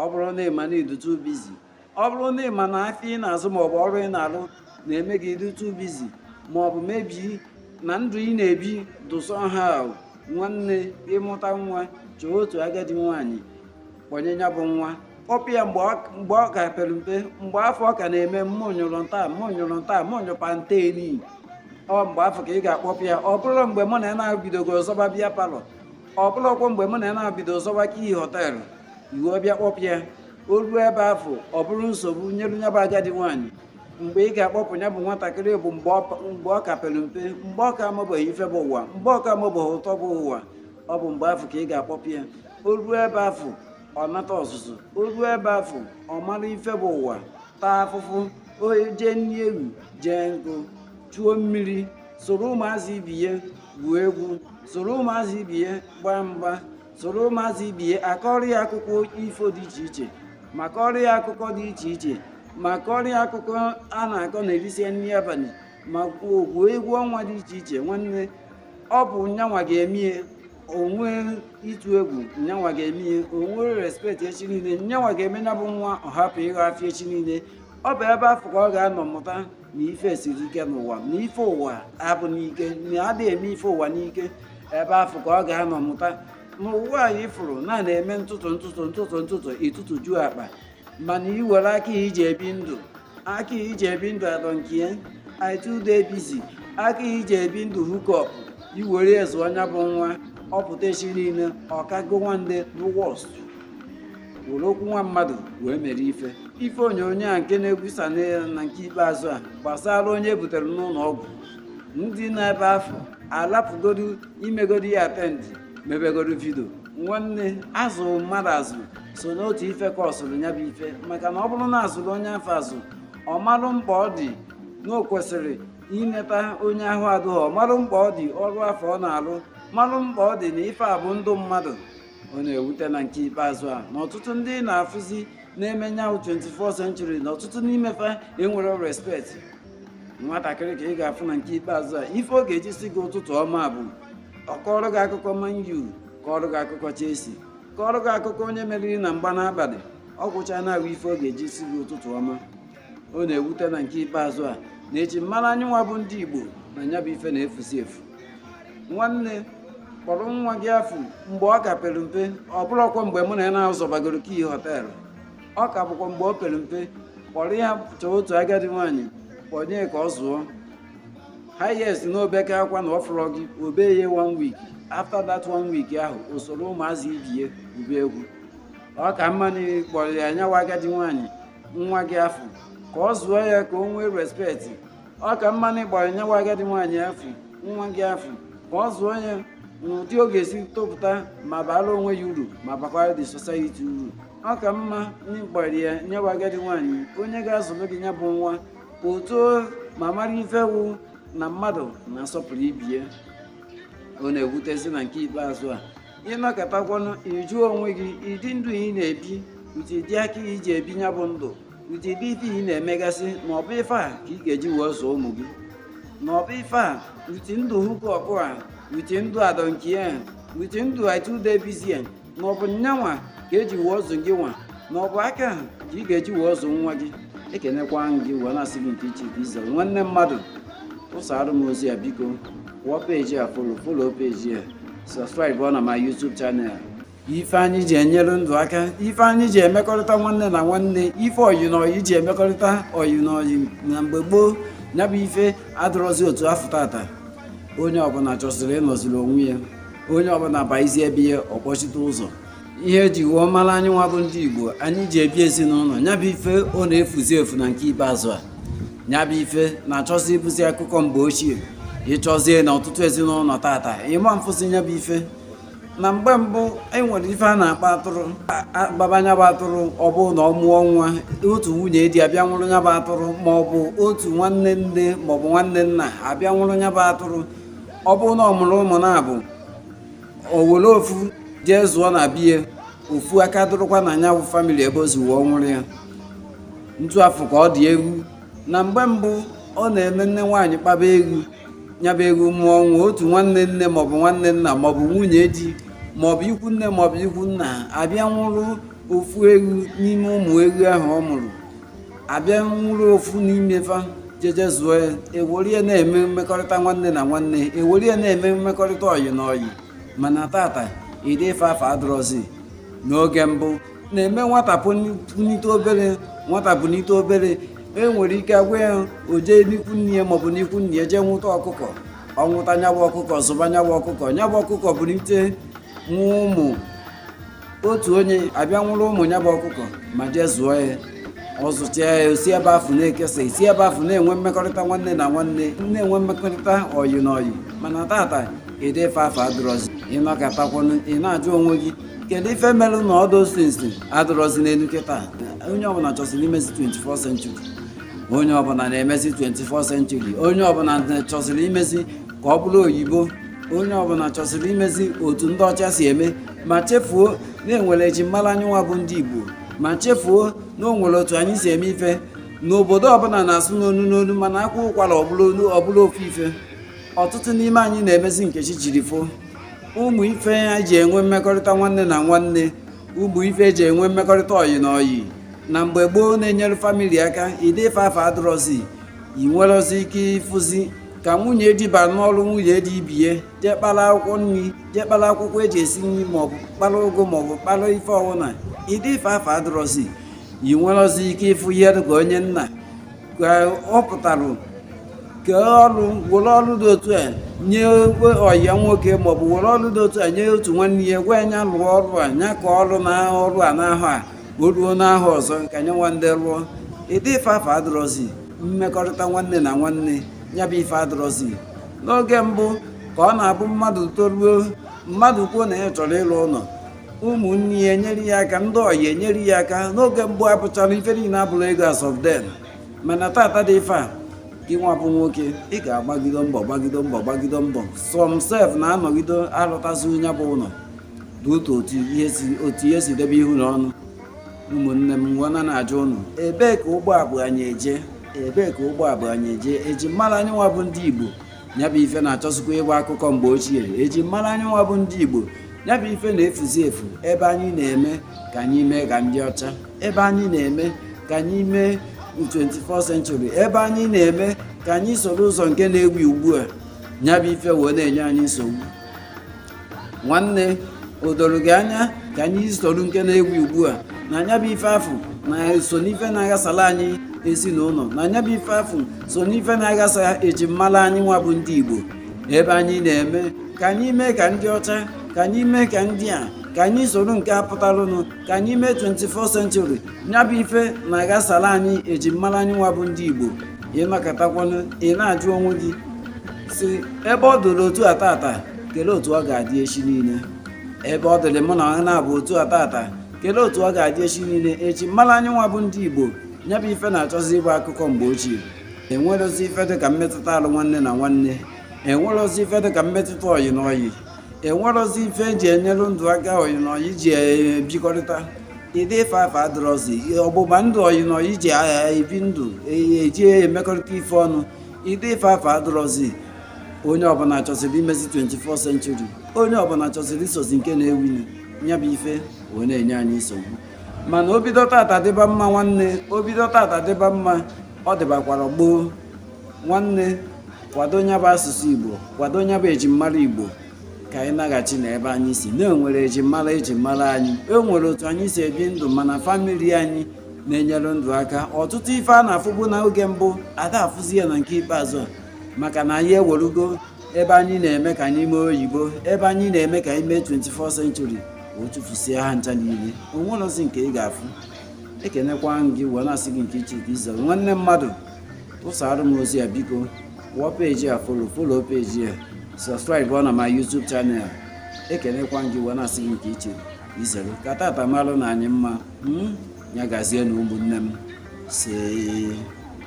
ọ bụrụ na ịma na ị dị too busy ọ bụrụ na ịma na afịa ị na-azụ maọbụ ọrụ ị na-alụ na-eme gị ịdị too busy maọbụ maybe na ndụ ị na-ebi dụ somehow nwanne ị mụta nwa chọọ otu agadi nwaanyị kpọnye ya bụ nwa kpọpụ ya mgbe ọ ka pere mpe mgbe afụ ọ ka na-eme mmụ nyụrụ nta mmụ nyụrụ nta mmụ nyụpa nta eni ọ mgbe afụ ka ị ga-akpọpụ ya ọ bụrọ mgbe mụ na ya na-abidogo zọba beer parlour ọ bụlọkwa mgbe mụ na ya na-abido zọba key hotel i wee bịa kpọpụ ya o ruo ebe afụ ọ bụrụ nsogbu nyelu nya bụ agadi nwaanyị mgbe ị ga-akpọpụ ya bụ nwatakịrị bụ mgbe ọ ka pere mpe mgbe ọ ka amabeghị ife bụ ụwa mgbe ọ ka amabeghị ụtọ bụ ụwa ọ bụ mgbe afụ ka ị ga-akpọpụ ya o ruo ebe afụ ọ nata ọzụzụ o ruo ebe afụ ọ mara ife bụ ụwa taa afụfụ o jee nri ewu jee nkụ chuo mmiri soro ụmụazị ibe ya gwuo egwu soro ụmụazị ibe ya gbaa mgba soro ụmụazị ibe ya a kọrọ ya akụkọ ifo dị iche iche ma kọrọ ya akụkọ dị iche iche ma kọrọ ya akụkọ a na-akọ na e risie nri abalị ma gwuo egwu ọnwa dị iche iche nwanne ọ bụ nyanwa ga-eme ya o nwee ịtụ egwu nyanwa ga-eme ya o nwee respect echi niile nyanwa ga-eme ya bụ nwa ọ hapụ ịghọ afịa echi niile ọ bụ ebe afụ ka ọ ga-anọ mụta na ife siri ike n'ụwa na ife ụwa abụ n'ike na adịghị eme ife ụwa n'ike ebe afụ ka ọ ga-anọ mụta na ụwa anyị fụrụ na a na-eme ntụtụ ntụtụ ntụtụ ntụtụ ị tụtụjuo akpa mana i were aka i ji ebi ndụ aka i ji ebi ndụ I don't care attitude busy aka i ji ebi ndụ hookup i were ya zụọ nya bụ nwa ọ pụta echi niile ọ kago nwande bụ worst were okwu nwa mmadụ wee mere ife ife onyonyo a nke na-egwusa na nke ikpeazụ a gbasara onye e butere n'ụlọ ọgwụ ndị nọ ebe afụ alapụgodu imegodu ya attend mebegodu video nwanne azụ mmadụ azụ so n'otu ife causeụrụ ya bụ ife maka na ọ bụrụ na a zụrụ onye afụ azụ ọ marụ mkpa ọ dị na o kwesịrị ineta onye ahụ adụghị ọ marụ mkpa ọ dị ọrụ afụ ọ na-alụ marụ mkpa ọ dị na ife a bụ ndụ mmadụ ọ na-ewute na nke ikpeazụ a na ọtụtụ ndị na-afụzi n'ime nya bụ 24 century na ọtụtụ n'ime fa enwerọ respect nwatakịrị ka ị ga-afụ na nke ikpeazụ a ife ọ ga-eji si gị ụtụtụ ọma bụ ọ kọrọ gị akụkọ Man U kọrọ gị akụkọ Chelsea kọrọ gị akụkọ onye meriri na mgba n'abalị ọ gwụcha nya bụ ife ọ ga-eji si gị ụtụtụ ọma ọ na-ewute na nke ikpeazụ a na e ji mara anyị nwa bụ ndị Igbo na nya bụ ife na-efuzi efu nwanne kpọrọ nwa gị afụ mgbe ọ ka pere mpe ọ bụrọkwa mgbe mụ na ya na-azọbagoro key hotel ọ ka bụkwa mgbe o pere mpe kpọrọ ya chọọ otu agadi nwaanyị kpọnye ka ọ zụọ highest na o beke akwa na ọ fụrọ gị o bee ya one week after that one week ahụ o soro ụmụazị ibie gwube egwu ọ ka mma na ị kpọrọ ya nyewa agadi nwaanyị nwa gị afụ ka ọ zụọ ya ka o nwee respect ọ ka mma na ị kpọrọ nyewa agadi nwaanyị afụ nwa gị afụ ka ọ zụọ ya n'ụdị ọ ga-esi topụta ma baara onwe ya uru ma bakwara the society uru ọ ka mma na ị kpọrọ ya nyewa agadi nwaanyị onye ga-azụrụ gị ya bụ nwa o too ma mara ife wụ na mmadụ na-asọpụrụ ibe ya ọ na-ewutezi na nke ikpeazụ a ị nọkatakwanụ ị jụọ onwe gị ụdị ndụ ị na-ebi ụdịdị aka ị ji ebi ya bụ ndụ ụdịdị ife ị na-emegasị na ọ bụ ife a ka ị ga-eji wee zụọ ụmụ gị na ọ bụ ife a ụdị ndụ hookup a ụdị ndụ I don't care ụdị ndụ I too dey busy na ọ bụ nyanwa ka e ji wee zụọ gị nwa na ọ bụ aka ahụ ka ị ga-eji wee zụọ nwa gị ekenekwa m gị wee na-asị gị nke iche ka ize nwanne mmadụ busara m ozi a biko kwụọ page a follow follow page a subscribeụọ na my YouTube channel ife anyị ji enyere ndụ aka ife anyị ji emekọrịta nwanne na nwanne ife ọyị na ọyị ji emekọrịta ọyị na ọyị na mgbe gboo ya bụ ife adịrọzi otu afụ tata onye ọbụla chọzịrị ịnọziri onwe ya onye ọbụla baizie be ya ọ kpọchite ụzọ ihe e ji wee mara anyị nwa bụ ndị igbo anyị ji ebi ezinụlọ ya bụ ife ọ na-efuzi efu na nke ikpeazụ a ya bụ ife na-achọzi ịbụzi akụkọ mgbe ochie ị chọzie na ọtụtụ ezinụlọ tata ị ma fụzị ya bụ ife na mgbe mbụ e nwere ife a na-akpa atụrụ a kpaba nya bụ atụrụ ọ bụ na ọ mụọ nwa otu nwunye di abịa nwụrụ nya bụ atụrụ ma ọ bụ otu nwanne nne ma ọ bụ nwanne nna abịa nwụrụ nya bụ atụrụ ọ bụrụ na ọ mụrụ ụmụ naabọ o were ofu jee zụọ na be ya ofu aka dụrụkwa na nya bụ family ebe o si wee nwụrụ ya otu afụ ka ọ dị eghu na mgbe mbụ ọ na-eme nne nwaanyị kpaba eghu nya bụ eghu mụọ nwa otu nwanne nne maọbụ nwanne nna maọbụ nwunye di maọbụ ikwu nne maọbụ ikwu nna abịa nwụrụ ofu eghu n'ime ụmụ eghu ahụ ọ mụrụ abịa nwụrụ ofu n'ime fa jeje zụọ ya e were ya na-eme mmekọrịta nwanne na nwanne e were ya na-eme mmekọrịta ọyị na ọyị mana tata ụdị ife afa adịrọzi n'oge mbụ na-eme nwata punite obere nwata punite obere e nwere ike a gwa ya o jee n'ikwu nne ya maọbụ n'ikwu nne ya jee nwụta ọkụkọ ọ nwụta nyabụ ọkụkọ zụba nyabụ ọkụkọ nyabụ ọkụkọ bunite nwa ụmụ otu onye abịa nwụrụ ụmụ nya bụ ọkụkọ ma jee zụọ ya ọ zụcha ya o si ebe afụ na-ekesa esi ebe afụ na-enwe mmekọrịta nwanne na nwanne na-enwe mmekọrịta ọyị na ọyị mana tata ụdị ife afụ adịrọzi ịnọkọtakwanụ ị na-ajụ onwe gị kedu ife merụ na all those things adịrọzi n'elu kịta onye ọbụla chọsiri imezi 24 century onye ọbụla na-emezi 24 century onye ọbụla chọsiri imezi ka ọ bụrụ oyibo onye ọbụla chọsiri imezi otu ndị ọcha si eme ma chefuo na enwere ejimmara anyị nwa bụ ndị Igbo ma chefuo na o nwere otu anyị si eme ife na obodo ọbụla na-asụ n'onu n'onu mana a kwaa ụkwara ọ bụrụ ofu ife ọtụtụ n'ime anyị na-emezi nke chi jiri fo ụmụ ife e ji enwe mmekọrịta nwanne na nwanne ụmụ ife eji enwe mmekọrịta ọyị na ọyị na mgbe gboo na-enyere famili aka ụdị ife afụ adịrọzi ị nwerozi ike ịfụzi ka nwunye di bara n'ọrụ nwunye di ibe ya jee kpara akwụkwọ nri jee kpara akwụkwọ eji esi nri maọbụ kpara ụgụ maọbụ kpara ife ọbụla ụdị ife afụ adịrọzi ị nwerozi ike ịfụ ihe dịka onye nna ka ọ pụtara kee ọrụ were ọrụ dị otu a nye ọyị ya nwoke maọbụ were ọrụ dị otu a nye otu nwanne ya gwa ya nya lụọ ọrụ a nya ka ọrụ na ọrụ a n'ahọ a o ruo n'ahọ ọzọ kenye nwanne rụọ ụdị ife afụ adịrọzi mmekọrịta nwanne na nwanne nya bụ ife adịrọzi n'oge mbụ ka ọ na-abụ mmadụ toruo mmadụ kwuo na ya chọrọ ịlụ ụnọ ụmụnne ya enyere ya aka ndị ọyị enyere ya aka n'oge mbụ abụchara ife niile abụrụ ego as of then mana tata ụdị ife a gị nwa bụ nwoke ị ga-agbagido mbọ gbagido mbọ gbagido mbọ some sef na-anọgido alụtazi nya bụ ụlọ dị otu otu ihe si debe ihu na ọnụ ụmụnne m wee na-ajụ ụnụ ebee ka ụgbọ a bu anyị eje ebee ka ụgbọ a bu anyị eje eji mara anyị nwa bụ ndị igbo nya bụ ife na-achọzikwa ịbụ akụkọ mgbe ochie eji mara anyị nwa bụ ndị igbo nya bụ ife na-efuzi efu ebe anyị na-eme ka anyị mee ka ndị ọcha ebe anyị na-eme ka anyị mee 24 century ebe anyị na-eme ka anyị soro ụzọ nke na-ewu ugbu a nya bụ ife wee na-enye anyị nsogbu nwanne o doro gị anya ka anyị soro nke na-ewu ugbu a na nya bụ ife afụ na so n'ife na-aghasala anyị ezinụlọ na nya bụ ife afụ so n'ife na-aghasa eji mmala anyị nwa bụ ndị Igbo ebe anyị na-eme ka anyị mee ka ndị ọcha ka anyị mee ka ndị a ka anyị soro nke a pụtalụnụ ka anyị mee 24 century nya bụ ife na-aghasala anyị eji mmara anyị nwa bụ ndị Igbo ị nọkọtakwanụ ị na-ajụ onwe gị sị ebe ọ dịrị otu a tata kelee otu ọ ga-adị echi niile ebe ọ dịrị mụ na ha na-abụ otu a tata kelee otu ọ ga-adị echi niile eji mmara anyị nwa bụ ndị igbo nya bụ ife na-achọzi ịbụ akụkọ mgbe ochie enwerozi ife dị ka mmetụta alụ nwanne na nwanne enwerozi ife dị ka mmetụta ọyị na ọyị enwerọzi ife eji enyere ndụ aka ọyị na ọyị ji ebikọrịta ụdị ife afụ adịrọzi ọgbụgba ndụ ọyị na ọyị ji ebi ndụ eji emekọrịta ife ọnụ ụdị ife afụ adịrọzi onye ọbụla chọsịrị imezi 24 century onye ọbụla chọsịrị isozi nke na-ewunu ya bụ ife wee na-enye anyị nsogbu mana o bido tata dịba mma nwanne o bido tata dịba mma ọ dịbakwara gboo nwanne kwado nya bụ asụsụ igbo kwado nya bụ ejimmara igbo ka anyị naghachi na ebe anyị si na-enwere ejimmara ejimmara anyị enwere otu anyị si ebi ndụ mana famili anyị na-enyere ndụ aka ọtụtụ ife a na-afụbu n'oge mbụ ada afụzi ya na nke ikpeazụ maka na anyị ewerugo ebe anyị na-eme ka anyị mee oyibo ebe anyị na-eme ka anyị mee 24 century o tufusie ha ncha niile onwerozi nke ị ga-afụ ekenekwa gị wee na-asị gị nke iche ka izere nwanne mmadụ tụsara m ozi ya biko wụọ peji a follow follow peji ya subscribe na my YouTube channel ekenekwa gị wee na-asị gị nke iche izere ka tata malụ na anyị mma hmm? ya gazie na ụmụnne m isee